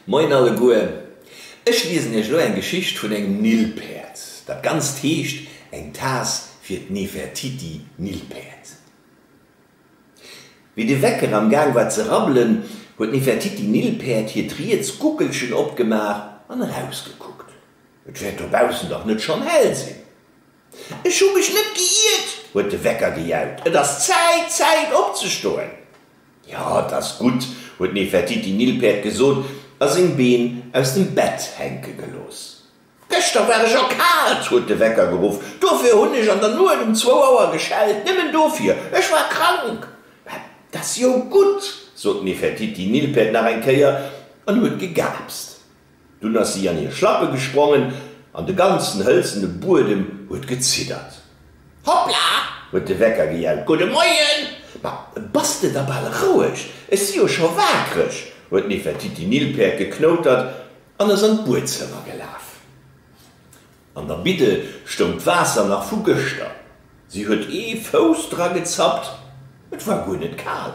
Moien alleguer, ech liesen iech elo eng Geschicht vun engem Nilpäerd. Dat Ganzt heescht Eng Taass fir d'Nefertiti Nilpäerd. Wéi de Wecker am Gaang war ze rabbelen, huet d'Nefertiti Nilpäerd hiert riets Guckelchen opgemaach an erausgekuckt. Et wäert dobaussen dach net schonn hell sinn. Ech hu mech net geiirt, huet de Wecker gejaut. Et ass Zäit, Zäit opzestoen! Jo, et ass gutt, huet Nefertiti Nilpferd gesot a seng Been aus dem Bett hänke gelooss. Gëschter war ech erkaalt, huet de Wecker geruff. Dofir hunn ech an der Nuet um zwou Auer geschellt. Nëmmen dofir. Ech war krank. Mä et ass jo gutt, sot Nefertiti Nilpferd nach eng Kéier an huet gegaapst. Dunn ass si an hir Schlappe gesprongen an de ganzen hëlzene Buedem huet geziddert. Hoppla! huet de Wecker gejellt. Gudde Moien! Ma bass de da bal roueg, ech si jo scho waakreg, huet Nefertiti Nilpferd geknoutert an ass an d'Buedzëmmer gelaf. An der Bidde stoung d'Waasser nach vu gëschter. Si huet ee Fouss dra gezappt, et war guer net kal.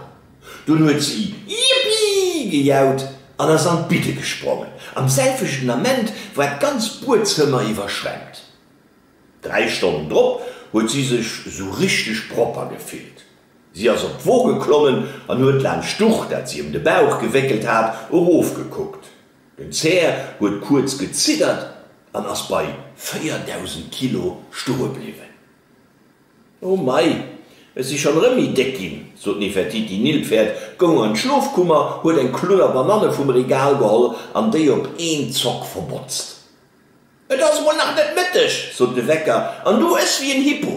Dunn huet si Jippi! gejaut an ass an d'Bidde gesprongen. Am selwechten Ament war d'ganz Buedzëmmer iwwerschwemmt. Dräi Stonnen drop huet si sech esou richteg propper gefillt. Si ass op d'Wo geklommen an huet laanscht d'Duch, dat si ëm de Bauch gewéckelt hat, erofgekuckt. Den Zär huet kuerz geziddert an ass bei 4.000 Kilo stoe bliwwen. Oh mei, ech si schonn erëm méi déck ginn, sot d'Nefertiti. Nilpferd goung an d'Schlofkummer, huet eng Klunner Bananne vum Regal geholl an déi op een Zock verbotzt. Et ass emol nach net Mëtteg, sot de Wecker, an du ëss wéi en Hippo.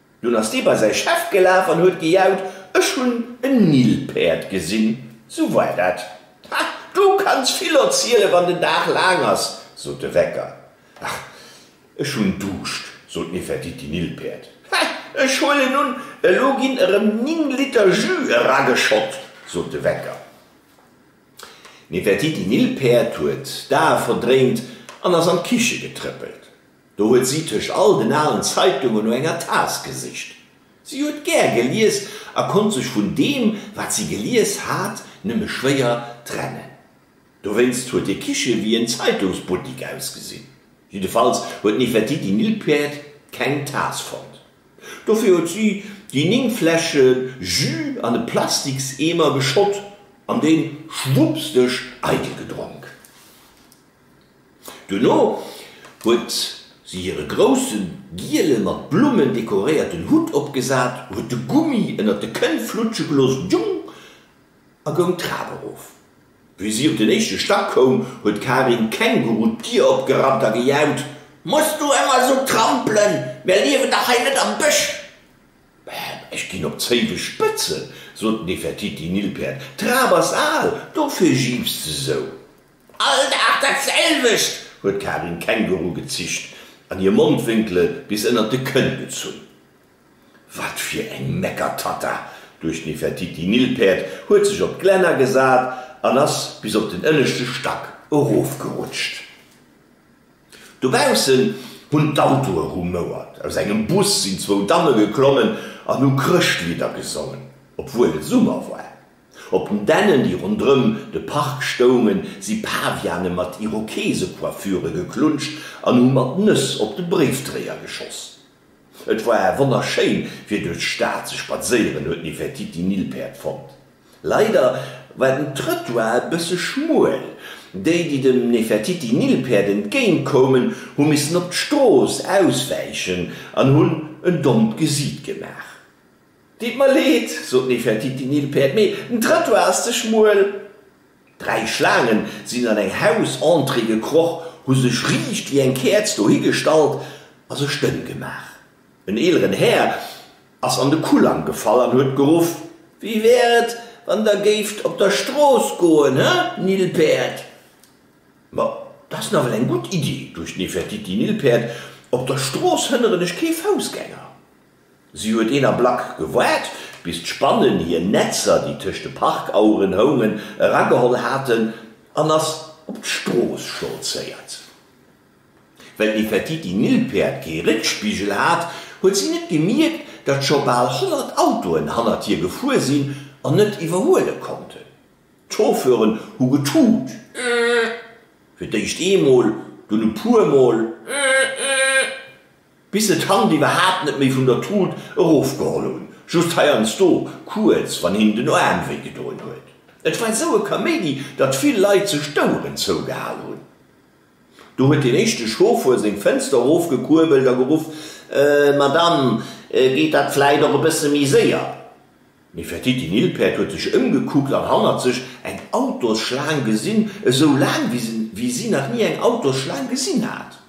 Dunn ass dee bei säi Chef gelaf an huet gejaut, Ech hunn en Nilpäerd gesinn! Sou war dat. Ha, du kanns vill erzielen, wann den Dag laang ass! sot de Wecker. Ach, ech hunn Duuscht! sot Nefertiti Nilpäerd. Ha, ech huelen un, elo ginn erëm ning Liter Jus erageschott! sot de Wecker. Nefertiti Nilpäerd huet d'Ae verdréint an ass an d'Kiche getrëppelt. Do huet si tëscht all den alen Zeitungen no enger Taass gesicht. Si huet gär gelies a konnt sech vun deem, wat si gelies hat, nëmme schwéier trennen. Dowéinst huet hir Kiche wéi en Zeitungsbuttik ausgesinn. Jiddefalls huet d'Nefertiti Nilpferd keng Taass fonnt. Dofir huet si déi néng Fläsche Jus an e Plastikseemer geschott an dee schwuppsdeg eidel gedronk. Duerno huet si hire grousse giele mat Blummen dekoréierten Hutt opgesat, huet de Gummi ënnert de Kënn flutsche gelooss, djung! a goung d'Trap erof. Wéi si op den éischte Stack koum, huet d'Karin Känguru d'Dier opgerannt a gejaut, Muss du ëmmer esou trampelen? Mir liewen dach hei net am Bësch! Ech ginn op d'Zéiwe spëtzen, sot Nefertiti Nilpäerd, d'Trap ass al, dofir jiips de sou. All Dag dat selwecht! huet d'Karin Känguru gezicht an hir Mondwénkele bis ënnert de Kënn gezunn. Wat fir eng Meckertatta! duecht d'Nefertiti. Nilpäerd huet sech op d'Glenn agesat an ass bis op den ënneschte Stack erofgerutscht. Dobaussen hunn d'Autoe rumouert, aus engem Bus sinn zwou Damme geklommen an hu Chrëschtlidder gesongen, obwuel et Summer war. Op den Dännen, déi ronderëm de Park stoungen, si Paviane mat Irokeesecoiffure geklunscht an hu mat Nëss op de Bréifdréier geschoss. Et war wonnerschéin, fir duerch d'Stad ze spadséieren, huet d'Nefertiti Nilpäerd fonnt. Leider war den Trëttoir e bësse schmuel. Déi, déi dem Nefertiti Nilpäerd entgéint koumen, hu missen op d'Strooss auswäichen an hunn en dommt Gesiit gemaach. Deet mer leed, sot Nefertiti Nilpferd, mee den Trottoir ass ze schmuel. Dräi Schlaangen sinn an eng Hausentrée gekroch, hu sech riicht wéi eng Käerz dohi gestallt a sech dënn gemaach. En eeleren Här ass an de Kulang gefall an huet geruff, Wéi wär et, wann der géift op der Strooss goen, he Nilpferd? Ma dat ass nawell eng gutt Iddi, duecht Nefertiti Nilpferd, op der Strooss hënneren ech kee Foussgänger. Si huet een Ablack gewaart, bis d'Spannen hir Netzer, déi tëscht de Parkaueren houngen, erageholl haten an ass op d'Strooss stolzéiert. Well Nefertiti-Nilpäerd kee Réckspigel hat, huet si net gemierkt, datt scho bal honnert Autoen hannert hir gefuer sinn an net iwwerhuele konnten. D'Chauffeuren hu getut, Ëëëë. Bis se d'Hand iwwerhaapt net méi vun der Trud erofgeholl hunn, just heiansdo kuerz, wann hinnen den Aarm wéi gedoen huet. Et war esou e Kaméidi, datt vill Leit sech d'Oueren zougehal hunn. Do huet deen éischte Chauffer seng Fënster erofgekuerbelt a geruff, Madame, geet dat vläit och e bësse méi séier? D'Nefertiti Nilpäerd huet sech ëmgekuckt an hannert sech eng Autosschlaang gesinn, esou laang, wéi si nach ni eng Autosschlaang gesinn hat.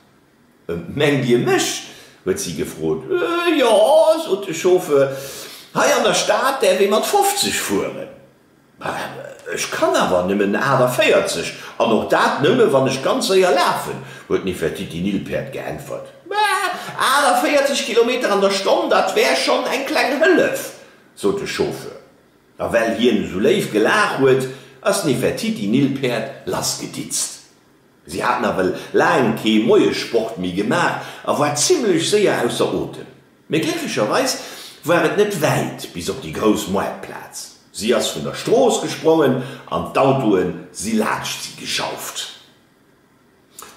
Mengt Dir mech? huet si gefrot. Jo, sot de Chauffeur, hei an der Stad däerf ee mat 50 fueren. Ech kann awer nëmmen 48, an och dat nëmme wann ech ganz séier lafen, huet Nefertiti Nilpferd geäntwert. 48 Kilometer an der Stonn, dat wär schonn eng kleng Hëllef, sot de Chauffeur. A well hien esou léif gelaach huet, ass Nefertiti Nilpferd lassgeditzt. Si hat nawell laang kee Moiesport méi gemaach a war zimmlech séier ausser Otem. Mee glécklecherweis war et net wäit bis op déi grouss Moartplaz. Si ass vun der Strooss gesprongen an d'Autoe si laanscht si gejauft.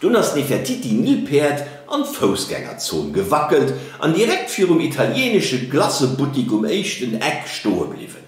Dunn ass d'Nefertiti Nilpäerd an d'Foussgängerzon gewackelt an direkt virum italienesche Glacebuttik um éischten Eck stoe bliwwen.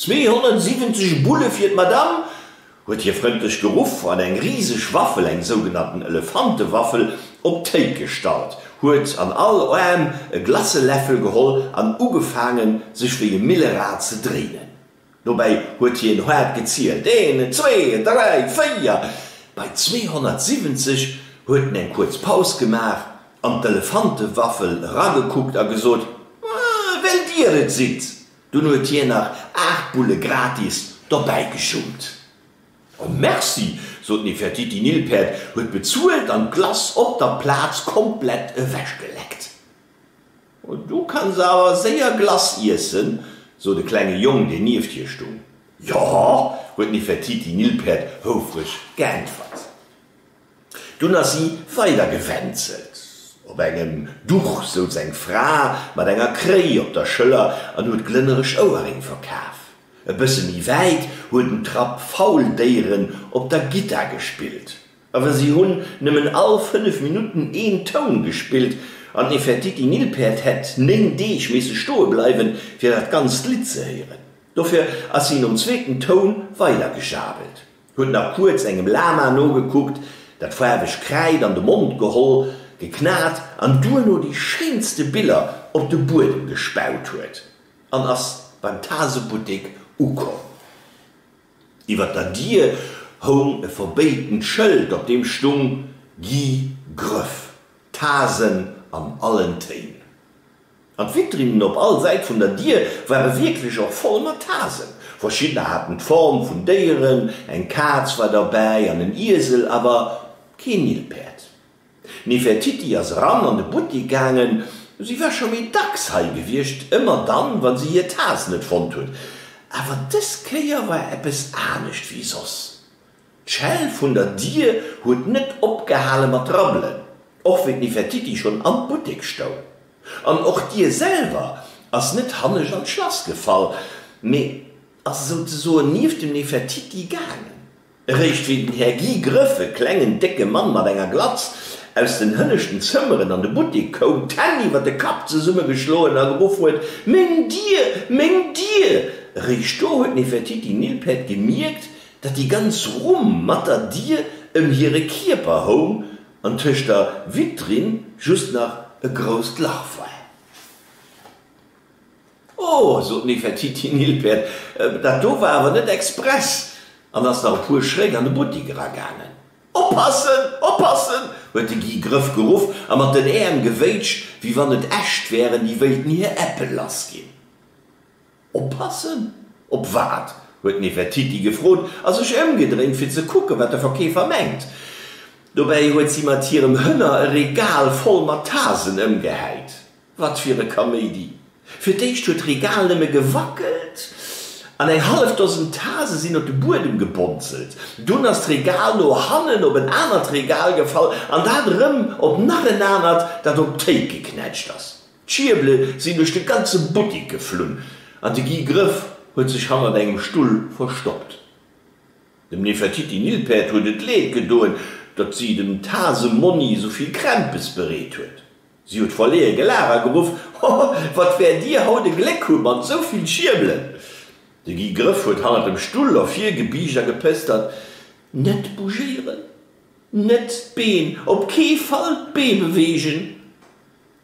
270 Bulle fir d'Madame! huet hie frëndlech geruff an eng riseg Waffel, eng sougenannten Elefantewaffel, op d'Théik gestallt, huet an all Aarm e Glaceläffel geholl an ugefaangen, sech wéi e Millerad ze dréinen. Dobäi huet hien haart gezielt, Een, zwee, dräi, véier! Bei 270 huet en eng kuerz Paus gemaach, an d'Elefantewaffel eragekuckt a gesot, Well Dir et sidd! Dunn huet hien nach 8 Bulle gratis dobäi geschummt. Oh merci, sot d'Nefertiti Nilpferd, huet bezuelt an d'Glace op der Plaz komplett ewech geleckt. Oh du kanns awer séier Glace iessen, sot e klenge Jong, deen nieft hir stung. Jo, huet d'Nefertiti Nilpferd houfreg geäntwert. Dunn ass si weider gewänzelt. Op engem Duch souz eng Fra mat enger Kréi op der Schëller an huet glënnereg Ouerréng verkaf. E bësse méi wäit huet en Trapp faul Déieren op der Gittar gespillt. Awer si hunn nëmmen all fënnef Minutten een Toun gespillt an Nefertiti Nilpferd hätt néng Deeg misse stoe bleiwen, fir dat ganzt Lidd ze héieren. Dofir ass si nom zweeten Toun weider gejabelt. Huet nach kuerz engem Lama nogekuckt, dat faarwegt Kräid an de Mond geholl, geknat an duerno déi schéinste Biller op de Buedem gespaut huet an ass beim Tasebuttek ukomm. Iwwer der Dier houng e verbéitend Schëld, op deem stung, Guy Grëff, Tasen an allen Téin. An d'Vitrinnen op all Säit vun der Dier ware wierklech och voll mat Hasen. Verschiddener haten d'Form vun Déieren, eng Kaz war derbäi an en Iesel, awer kee Nilpäerd. D'Nefertiti ass eran an de Buttek gaangen. Si war scho méi dacks hei gewiescht, ëmmer dann, wa si hir Taz net fonnt huet. Awer dës Kéier war eppes anescht wéi soss. D'Schell vun der Dier huet net opgehale mat rabbelen, och wéi d'Nefertiti schonn am Buttek stoung. An och d'Dier selwer ass net hannescht an d'Schlass gefall, mee ass esou ze soen nieft dem Nefertiti gaangen. Eréischt wéi den Här Guy Grëff, e klengen, décke Mann mat enger Glatz, aus den hënneschten Zëmmeren an de Buttek koum, d'Hänn iwwer de Kapp zesummegeschloen a geruff huet, Meng Dier! Meng Dier! Eréischt do huet d'Nefertiti Nilpert gemierkt, Datt déi ganz Rumm mat der Dier ëm hire Kierper houng an tëscht der Vitrinn just nach e grousst Lach war. Oh, sot d'Nefertiti Nilpferd, dat do war awer net express an ass nach e puer Schrétt an de Buttik eragaangen. Oppassen! Oppassen! huet de Guy Grëff geruff a mat den Äerm gewéitscht, wéi wann et Äscht wären, déi wéilten hir Äppel lassginn. Oppassen? Op wat? huet Nefertiti gefrot a sech ëmgedréint, fir ze kucken, wat de Verkeefer mengt. Dobäi huet si mat hirem Hënner e Regal voll mat Tasen ëmgehäit. Wat fir e Kaméidi! Fir d'éischt huet d'Regal nëmme gewackelt an eng hallef Dosen Tase sinn op de Buedem gebonzelt. Dunn ass d'Regal no hannen op en anert Regal gefall an dat erëm op nach en anert, dat op d'Théik geknätscht ass. D'Schierbele sinn duerch de ganze Buttik geflunn an de Guy Grëff huet sech hannert engem Stull verstoppt. Dem Nefertiti Nilpferd huet et leed gedoen, datt si dem Tase Monni esou vill Krämpes bereet huet. Si huet verleeë gelaacht a geruff, Ho, wat wäert dir haut e Gléck hu mat esou vill Schierbelen! De Guy Grëff huet hannert dem Stull ervir gebiischt a gepëstert, Net bougéieren, net d'Been, op kee Fall d'Bee beweegen!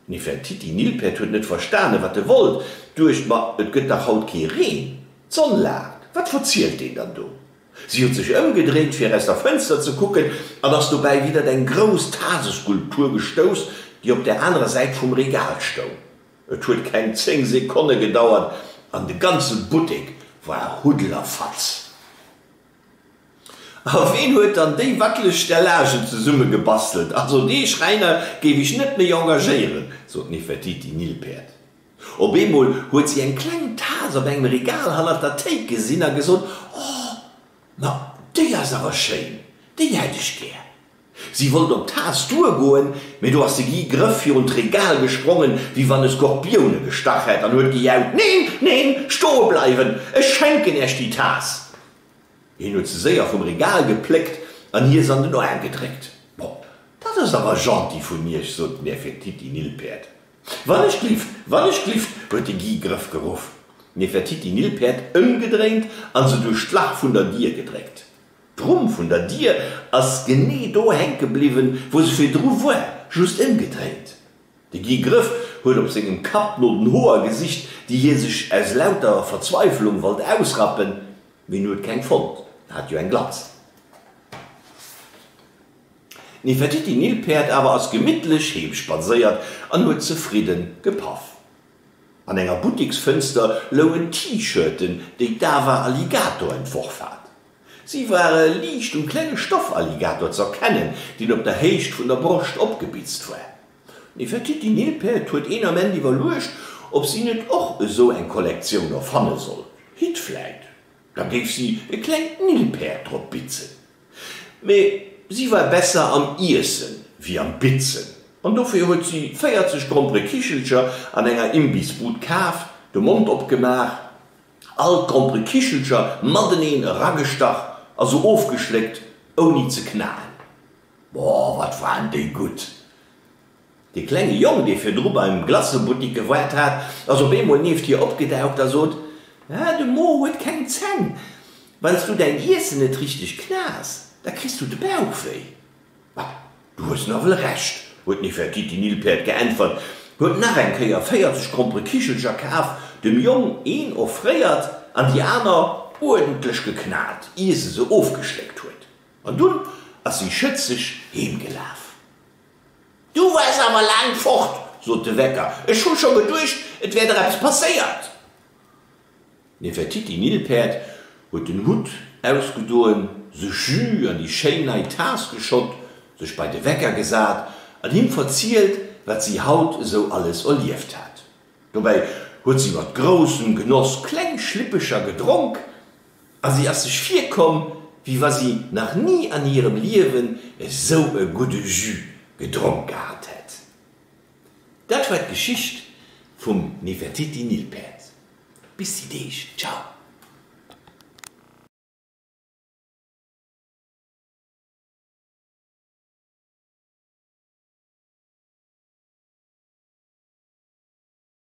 Nefertiti Nilpferd huet net verstanen, wat e wollt, duecht, Ma et gëtt dach haut kee Reen, d'Sonn laacht, wat verzielt deen dann do? Si huet sech ëmgedréint, fir aus der Fënster ze kucken, an ass dobäi widert eng grouss Taseskulptur gestouss, déi op der anerer Säit vum Regal stoung. Et huet keng zéng Sekonne gedauert, an de ganze Buttek war Huddellerfatz. A ween huet dann déi wackeleg Stellagen zesummegebastelt? Also dee Schräiner géif ech net méi engagéieren, sot d'Nefertiti Nilpferd. Op eemol huet si eng kleng Tas op engem Regal hannert der Théik gesinn a gesot, Oh, ma déi ass awer schéin, déi hätt ech gär! Si wollt op d'Taass duergoen, mee do ass de Guy Grëff virun d'Regal gesprongen, wéi wann e Skorpioun e gestach hätt, an huet gejaut, Neen, neen, stoe bleiwen! Ech schenken Äech déi Taass! Hien huet se séier vum Regal gepléckt an hir se an den Aarm gedréckt. Bon, dat ass awer gentil vun Iech, sot d'Nefertiti Nilpäerd. Wann ech glift, wann ech glift! huet de Guy Grëff geruff. D'Nefertiti Nilpäerd ëmgedréint an se duerch d'Lach vun der Dier gedréckt. D'Rumm vun der Dier ass genee do hänke bliwwen, wou se virdru war, just ëmgedréint. De Guy Grëff huet op sengem Kapp no den Hoer gesicht, déi hie sech aus lauter Verzweiflung wollt ausrappen, mee en huet keng fonnt, en hat jo eng Glatz. D'Nefertiti-Nilpäerd awer ass gemittlech heem spadséiert an huet zefridde gepaff. An enger Butteksfënster loungen T-Shirten, déi d'Ava Alligator entworf hat. Si ware liicht um klenge Stoff-Alligator z'erkennen, deen op der Héicht vun der Broscht opgebitzt war. D'Nefertiti Nilpferd huet een Ament iwwerluecht, ob si net och esou eng Kollektioun erfanne sollt. Hitt vläit. Da géif si e klengt Nilpäerd drop bitzen. Mee si war besser am Iessen wéi am Bitzen an dofir huet si 40 Grompere Kichelcher an enger Imbissbud kaf, de Mond opgemaach, all d'Grompere Kichelcher mateneen eragestach a se ofgeschléckt, ouni ze knaen. Boah, wat waren déi gutt! Dee klenge Jong, dee virdru beim Glacebuttik gewaart hat, ass op eemol nieft hir opgedaucht a sot, Ah, de Mo huet keng Zänn. Wann s du däin Iessen net richteg knass, da kriss du de Bauch wéi. Ah, du hues nawell Recht, huet Nefertiti Nilpferd geäntwert, huet nach eng Kéier 40 krompere Kichelcher kaf, dem Jong een offréiert an déi aner uerdentlech geknat, ier se se ofgeschléckt huet. An dunn ass si schëtzeg heemgelaf. Du waars awer laang fort, sot de Wecker. Ech hu scho geduecht, et wär der eppes passéiert. D'Nefertiti Nilpäerd huet den Hutt ausgedoen, sech Jus an déi schéin nei Taass geschott, sech bei de Wecker gesat an him verzielt, wat si haut esou alles erlieft hat. Dobäi huet si mat groussem Genoss kleng Schlippecher gedronk A si ass sech virkomm, wéi wa si nach ni an hirem Liewen esou e gudde Jus gedronk gehat hätt. Dat war d'Geschicht vum Nefertiti Nilpferd. Bis déi Deeg, ciao!